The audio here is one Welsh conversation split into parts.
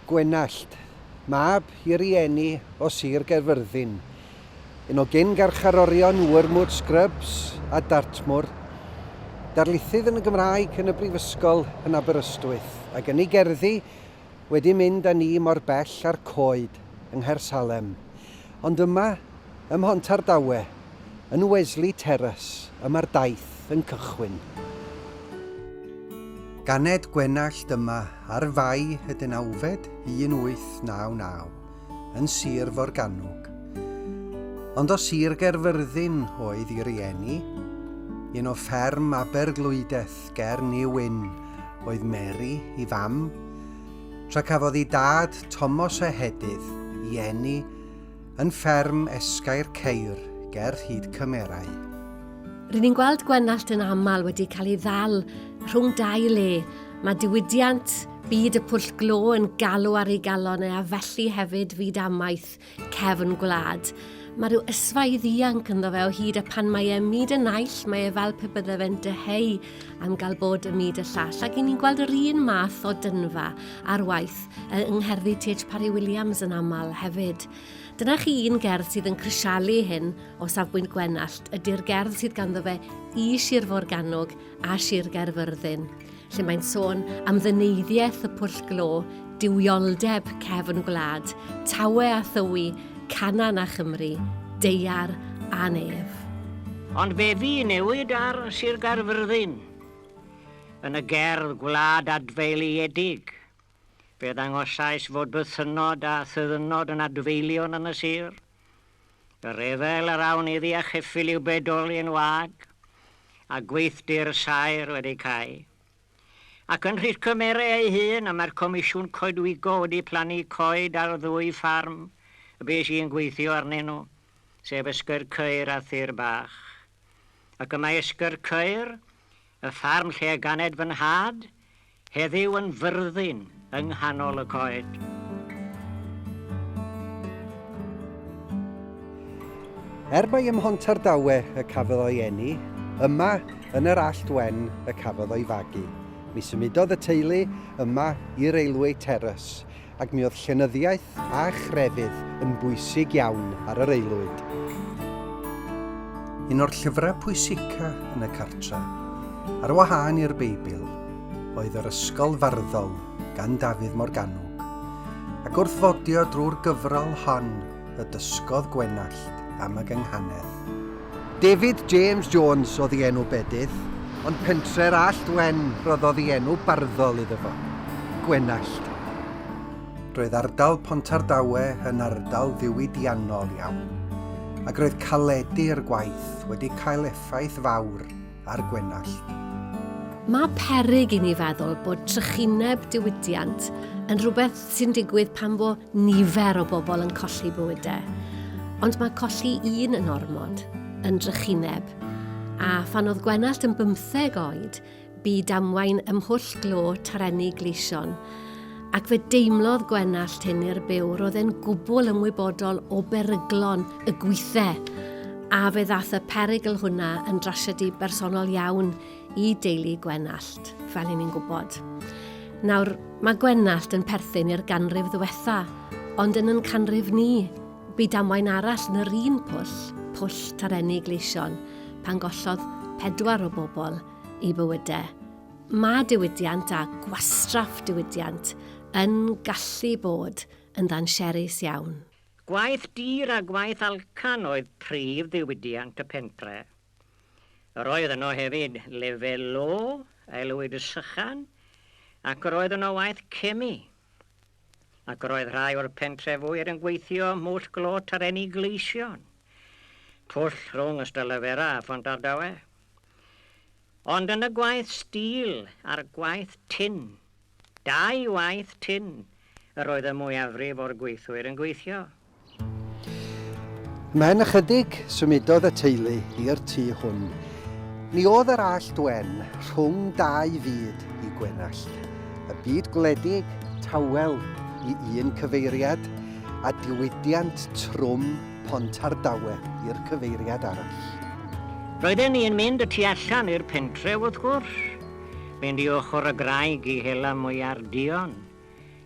Gwenallt, mab i rieni o Sir Gaerfyrddin, un o gyn-garcharorion Wormwood Scrubs a Dartmoor, darlithydd yn y Gymraeg yn y Brifysgol yn Aberystwyth, ac yn ei gerddi wedi mynd â ni mor bell â'r coed yng Nghaersalem, ond yma ym Mhontardawe, yn Wesley Terrace, y mae'r daith yn cychwyn. Ganed Gwenallt yma ar Fae y Dynawfed 1899, yn Sir Forgannwg. Ond o Sir Gaerfyrddin oedd i rieni, un o fferm Aberglwyddeth, ger New Wynn oedd Mary, i fam, tra cafodd i dad Tomos Ehedydd, i eni, yn fferm Esgair Ceir ger Rhyd Cymerau. Rydyn ni'n gweld Gwenallt yn aml wedi cael ei ddal rhwng dau le. Mae diwydiant byd y pwll glo yn galw ar ei galon e a felly hefyd fyd amaeth. cefn gwlad. Mae rhyw ysfaidd ianc ynddo fe o hyd a pan mae e myd y naill, mae e fel pe bydde fe'n dyheu am gael bod y myd y llall. Ac i ni'n gweld yr un math o dynfa ar waith yng ngherddi T.H. Parry Williams yn aml hefyd. Dyna chi un gerdd sydd yn crisialu hyn o safbwynt Gwenallt, ydy'r gerdd sydd ganddo fe i Sir Forgannwg a Sir Gaerfyrddin, lle mae'n sôn am ddyneiddiaeth y pwll glo, duwioldeb cefn gwlad, tawe a thywi, Canaan a Chymru, deiar a nef. Ond be fu newid ar Sir Gaerfyrddin? Yn y gerdd Gwlad Adfeiliedig, fe ddangosais fod bythynnod a thyddynnod yn adfeilion yn y sir, Y rhyfel yr awn iddi a cheffyl i'w bedoli yn wag, a gweithdy'r saer wedi cau. Ac yn rhith cymere ei hun, y mae'r comisiwn coedwigo wedi plannu coed ar ddwy ffarm y bues i'n gweithio arnyn nhw, sef Ysgyrcyr a Thir Bach. Ac y mae Ysgyrcyr, Y ffarm lle y ganed fy nhad, heddiw yn fyrddin yng nghanol y coed. Er mai ym Mhontardawe y cafodd o'i eni, yma, yn yr Allt Wen, y cafodd o'i fagu. Mi symudodd y teulu yma i Railway Terrace, ac mi oedd llenyddiaeth a chrefydd yn bwysig iawn ar yr aelwyd. Un o'r llyfrau pwysica yn y cartre, ar wahân i'r Beibl, oedd yr Ysgol Farddol gan Dafydd Morgannwg, ac wrth fodio drwy'r gyfrol hon y dysgodd Gwenallt am y gynghanedd. David James Jones oedd ei enw bedydd, ond pentre'r Allt Wen roddodd ei enw barddol iddo fo, Gwenallt. Roedd ardal Pontardawe yn ardal ddiwydiannol iawn, ac roedd caledi i'r gwaith wedi cael effaith fawr a'r Gwenallt. Mae peryg i ni feddwl bod trychineb diwydiant yn rhywbeth sy'n digwydd pan fo nifer o bobl yn colli bywydau. Ond mae colli un yn ormod, yn drychineb. A phan oedd Gwenallt yn bymtheg oed, bu damwain ymhwll glo tarenni Gleision. ac fe deimlodd Gwenallt hyn i'r byw, roedd e'n gwbl ymwybodol o beryglon y gwithe, a fe ddath y perygl hwnna yn drasiedi bersonol iawn i deulu Gwenallt, fel i ni'n gwybod. Nawr, mae Gwenallt yn perthyn i'r ganrif ddiwetha, ond yn yn canrif ni, bu damwain arall yn yr un pwll, pwll tarenni gleision, pan gollodd pedwar o bobl i bywydau. Mae diwydiant a gwastraff diwydiant yn gallu bod yn ddansiarus iawn. Gwaith dur a gwaith alcan oedd prif ddiwydiant y pentre. Yr oedd yno hefyd lefel lo, aelwyd y sychan, ac yr oedd yno waith cemi. Ac yr oedd rhai o'r pentrefwyr yn gweithio ym Mhwll Glôt ar Eni Gleision, pwll rhwng Ystalyfera a Phont Ardawe. Ond yn y gwaith stîl a'r gwaith tin, dau waith tin, yr oedd y mwyafrif o'r gweithwyr yn gweithio. Mewn ychydig, symudodd y teulu i'r tŷ hwn. Ni oedd yr Allt Wen rhwng dau fyd i Gwenallt. Y byd gwledig, tawel i un cyfeiriad, a diwydiant trwm Pontardawe i'r cyfeiriad arall. Roedden ni yn mynd y tu allan i'r pentref wrth gwrs, mynd i ochr y graig i hela mwyar duon,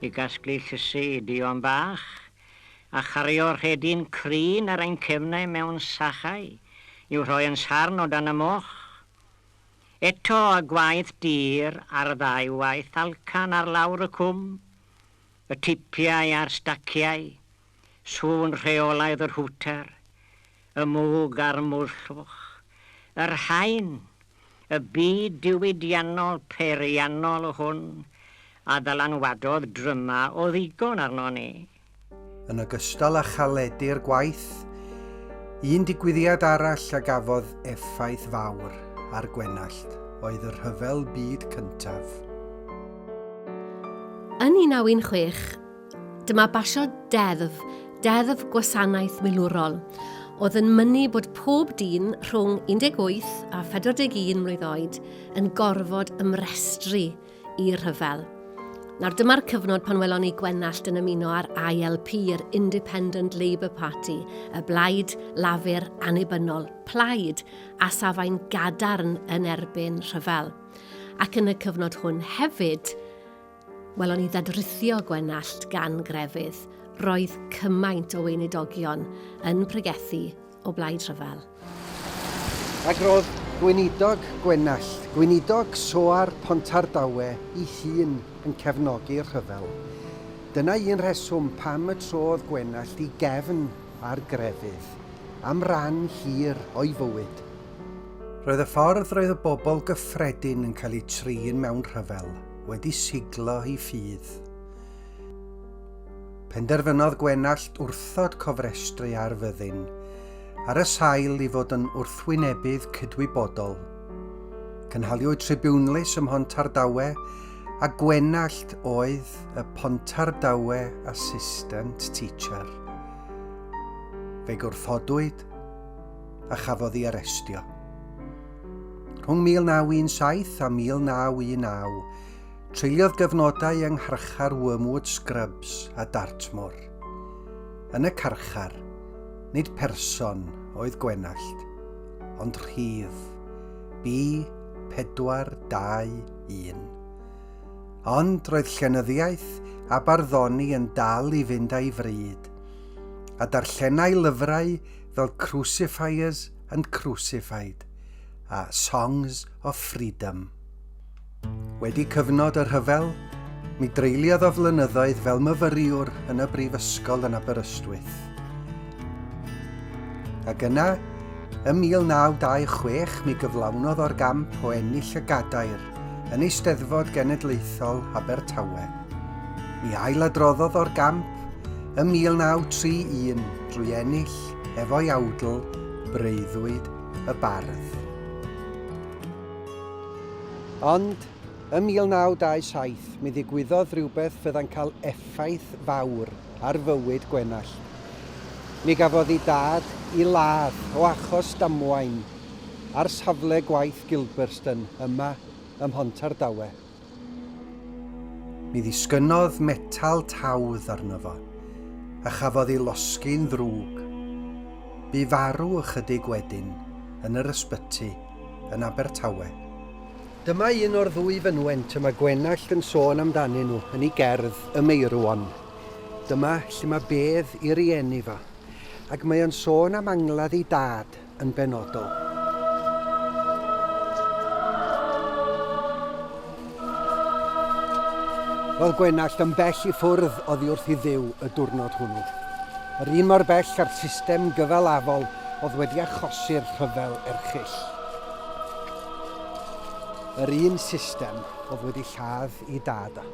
i gasglu llysi i duon bach, a chario rhedyn crin ar ein cefnau mewn sachau i'w rhoi yn sarn o dan y moch. Eto y gwaith dur a'r ddau waith alcan ar lawr y cwm, y tipiau a'r staciau, sŵn rheolaidd yr hwter, y mwg a'r mwllwch, yr haen, y byd diwydiannol peiriannol hwn a ddylanwadodd drymau o ddigon arnon ni. Yn ogystal â chaledu'r gwaith, un digwyddiad arall a gafodd effaith fawr ar Gwenallt oedd y Rhyfel Byd Cyntaf. Yn 1916, Dyma basio deddf, deddf gwasanaeth milwrol, oedd yn mynnu bod pob dyn rhwng 18 a 41 mlwydd oed yn gorfod ymrestru i rhyfel. Nawr dyma'r cyfnod pan welon ni Gwenallt yn ymuno â'r ILP, yr Independent Labour Party, y blaid lafur annibynnol, plaid a safai'n gadarn yn erbyn rhyfel. Ac yn y cyfnod hwn hefyd, Welon ni ddadrithio Gwenallt gan grefydd, roedd cymaint o weinidogion yn pregethu o blaid rhyfel. Ac roedd Gweinidog Gwenallt, Gweinidog Soar Pontardawe i hun yn cefnogi'r rhyfel. Dyna un rheswm pam y trodd Gwenallt i gefn ar grefydd am ran hir o'i fywyd. Roedd y ffordd roedd y bobl gyffredin yn cael eu trin mewn rhyfel. wedi siglo i ffydd. Penderfynodd Gwenallt wrthod cofrestru ar fyddin, ar y sail i fod yn wrthwynebydd cydwybodol. Cynhaliwyd tribiwnlys ym Mhontardawe a Gwenallt oedd y Pontardawe Assistant Teacher. Fe gwrthodwyd a chafodd ei arestio. Rhwng 1917 a 1919, treuliodd gyfnodau yng ngharchar Wormwood Scrubs a Dartmoor. Yn y carchar, nid person oedd Gwenallt, ond rhif B421. Ond roedd llenyddiaeth a barddoni yn dal i fynd a'i fryd, a darllenai lyfrau fel Crucifiers and Crucified a Songs of Freedom. Wedi cyfnod y rhyfel, mi dreuliodd o flynyddoedd fel myfyriwr yn y brifysgol yn Aberystwyth. Ac yna, ym 1926 mi gyflawnodd o'r gamp o ennill y gadair yn Eisteddfod Genedlaethol Abertawe. Mi ailadroddodd o'r gamp ym 1931 drwy ennill efo'i awdl, breuddwyd y bardd. Ond, ym 1927, mi ddigwyddodd rywbeth fydda'n cael effaith fawr ar fywyd Gwenallt. Mi gafodd ei dad i ladd o achos damwain ar safle gwaith Gilberston yma ym Mhontardawe. Mi ddisgynnodd metal tawdd arno fo, a chafodd ei losgi'n ddrwg. Bu farw ychydig wedyn yn yr ysbyty yn Abertawe. Dyma un o'r ddwy fynwent y mae Gwenallt yn sôn amdanyn nhw yn ei gerdd Y Meirwon. Dyma lle mae bedd ei rieni fo, ac mae o'n sôn am angladd ei dad. yn benodol. Roedd Gwenallt yn bell i ffwrdd oddi wrth i dduw y diwrnod hwnnw. Yr un mor bell â'r system gyfalafol oedd wedi achosi'r rhyfel erchyll. Yr un system oedd wedi lladd i dad a.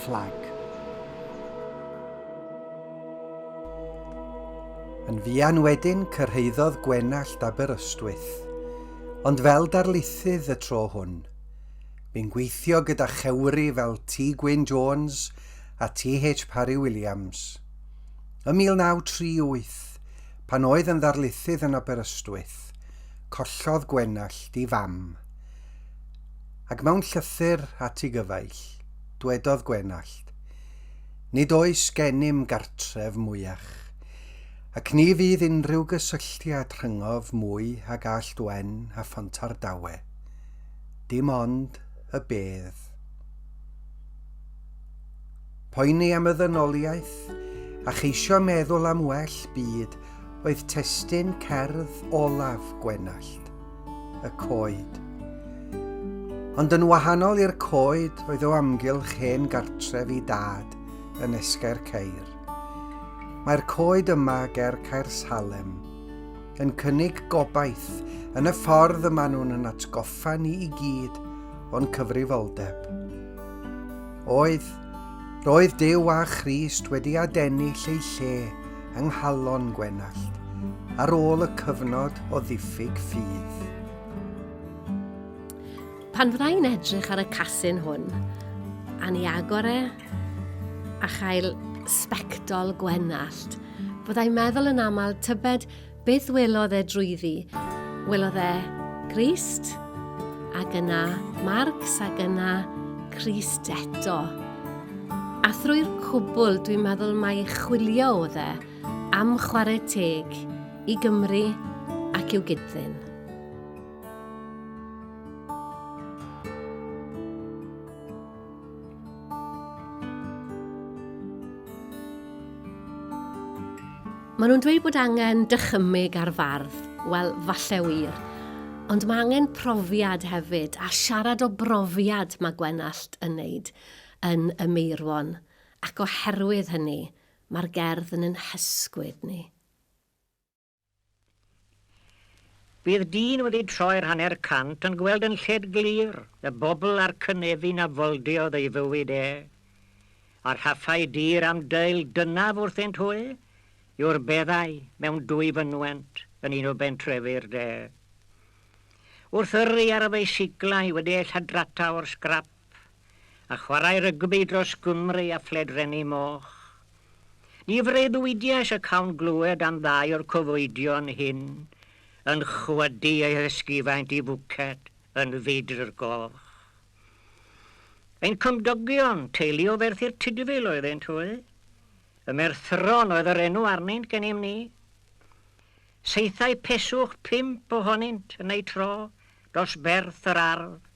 fflag. Yn fuan wedyn cyrhaeddodd Gwenallt Aberystwyth, ond fel darlithydd y tro hwn. Bu'n gweithio gyda chewri fel T. Gwyn Jones a T.H. Parry Williams. Ym 1938, pan oedd yn ddarlithydd yn Aberystwyth, collodd Gwenallt i fam. Ac mewn llythyr at ei gyfaill, dwedodd Gwenallt, Nid oes gennym gartref mwyach, ac ni fydd unrhyw gysylltiad rhyngof mwy ag Allt Wen a Phontardawe, dim ond y bedd. Poeni am y ddynoliaeth a cheisio meddwl am well byd oedd testun cerdd olaf Gwenallt, y coed. Ond yn wahanol i'r coed oedd o amgylch hen gartref i dad yn Esgair Ceir. Mae'r coed yma ger Caer Salem yn cynnig gobaith yn y ffordd y maen nhw'n yn atgoffa ni i gyd o'n cyfrifoldeb. Oedd, roedd Duw a Christ wedi adennill eu lle yng nghalon Gwenallt ar ôl y cyfnod o ddiffyg ffydd. Pan fydda i'n edrych ar y casyn hwn, a ni agor e, a chael sbectol Gwenallt, fyddai'n meddwl yn aml tybed Beth welodd e drwyddi? Welodd e Grist, ac yna Marcs, ac yna Crist eto. A thrwy'r cwbl, dwi'n meddwl mai chwilio oedd e am chwarae teg i Gymru ac i'w gydddyn. Maen nhw'n dweud bod angen dychymyg ar fardd. Wel, falle wir. Ond mae angen profiad hefyd, a siarad o brofiad mae Gwenallt yn wneud yn y Meirwon. Ac oherwydd hynny, mae'r gerdd yn yn hysgwyd ni. Bydd dyn wedi troi'r hanner cant yn gweld yn lled glir y bobl a'r cynefin a foldiodd ei fywyd e. A rhaffau dir am deu'l dynaf wrthynt hwy yw'r beddau mewn dwy fynwent yn un o bentrefi'r de. Wrth yrru ar y feisiglau wedi eu lladrata o'r sgrap, a chwarae rygbi dros Gymru a phledrennu moch. Ni freuddwydiais y cawn glywed am ddau o'r cyfoedion hyn yn chwydu eu hysgufaint i fwced yn fedru'r goch. Ein cymdogion, teulu o Ferthyr Tudful oeddent hwy. Y Merthyron oedd yr enw arnynt gennym ni. Saethai peswch pump ohonynt yn eu tro dros berth yr ardd.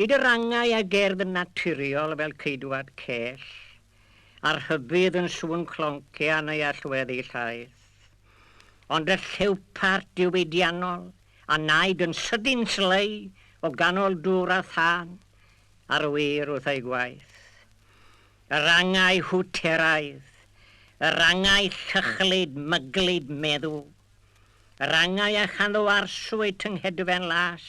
Nid yr angau a gerdd yn naturiol fel ceidwad cell, a rhybudd yn sŵn clonciau neu allweddi llaeth, ond y lliwpart diwydiannol a wnaed yn sydyn slei o ganol dŵr a thân ar wir wrth ei gwaith. Yr angau hwteraidd, yr angau llychlyd, myglyd, meddw. Yr angau a chanddowarswyd tyngedfen las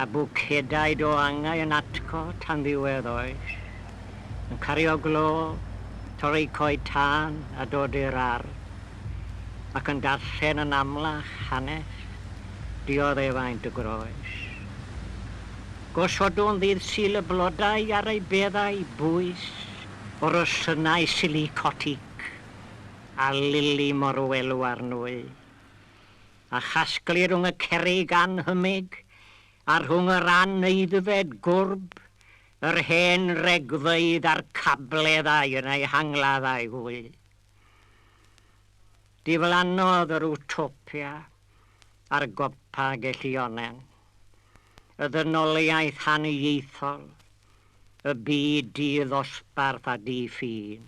a bwcedau do angau yn atgo tan ddiwedd oes, yn cario glo, torri coed tân a dod i'r ardd, ac yn darllen yn amlach hanes dioddefaint y groes. Gosodwn ddydd Sul y blodau ar ei beddau bwys, o rosynnau silicotig a lili morwelw ar nwy, a chasglu rhwng y cerrig annhymig a rhwng yr aneidfed gwrb, yr hen regfeydd a'r cableddau yn eu hangladd â'i hwy. Diflannodd yr Utopia ar gopa gellionen y ddynoliaeth haniaethol, y byd di-ddosbarth a di-ffin.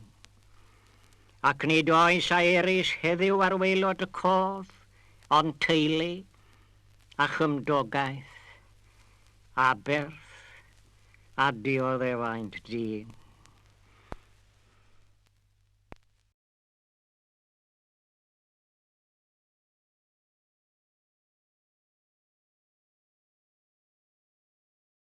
ac nid oes a erys heddyw ar waelod y cof ond teulu a chymdogaeth, aberth a dioddefaint dyn.